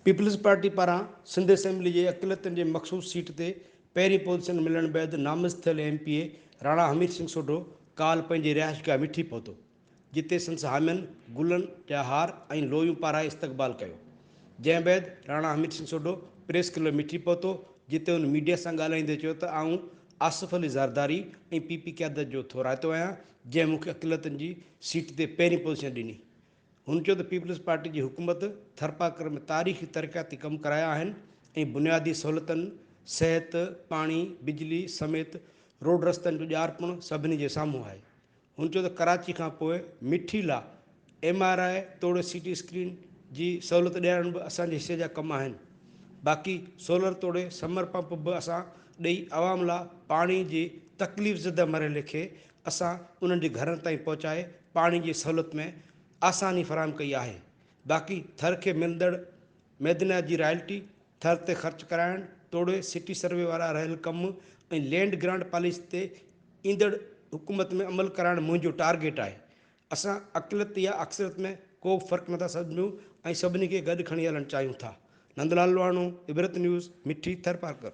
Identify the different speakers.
Speaker 1: Peoples Party پاران Sindh assembly جي اقليتن جي مخصوص سيٽ تي پهرين پوزيشن ملڻ بعد نامزد ٿيل M P A Rana Hamid Singh Sodho ڪالهه پنهنجي رهائشگاهه مٺي پهتو جتي سندس حامين گلن جا هار ۽ لويون پارائي استقبال ڪيو. جنهن بعد راڻا حميد سنگهه سوڍو پريس ڪلب مٺي پهتو، جتي هن ميڊيا سان ڳالهائيندي چيو ته آئون آصف علي زرداري ۽ پي پي قيادت جو ٿورائتو آهيان، جنهن مون کي اقليتن جي سيٽ تي پهرين پوزيشن ڏني. هن چيو ته پيپلز پارٽي جي حڪومت ٿرپارڪر ۾ تاريخي ترقياتي ڪم ڪرايا آهن ۽ بنيادي سهولتن، صحت، پاڻي، بجلي سميت روڊ رستن جو ڄار پڻ سڀني جي سامهون آهي. هن چيو ته ڪراچي کانپوء مٺي لا ايم آر آء توڙي سي ٽي اسڪرين جي سهولت ڏيارڻ به اسان جي حصي جا ڪم آهن، باقي سولر توڙي سمر پمپ به اسان ڏئي عوام لا پاڻي جي تڪليف زده مرحلي کي اسان انهن جي گهرن تائين پهچائي پاڻي جي سهولت ۾ آساني فراهم ڪئي آهي، باقي ٿر کي ملندڙ ميدنا جي رائلٽي ٿر تي خرچ ڪرائڻ توڙي سٽي سروي وارا رهيل ڪم ۽ لينڊ گرانٽ پاليسي تي ايندڙ حڪومت ۾ عمل ڪرائڻ منهنجو ٽارگيٽ آهي. اسان اقليت يا اڪثريت ۾ ڪو به فرق نٿا سمجهون ۽ سڀني کي گڏ کڻي هلڻ چاهيون ٿا. نندلال لواڻو، عبرت نيوز، مٺي ٿرپارڪر.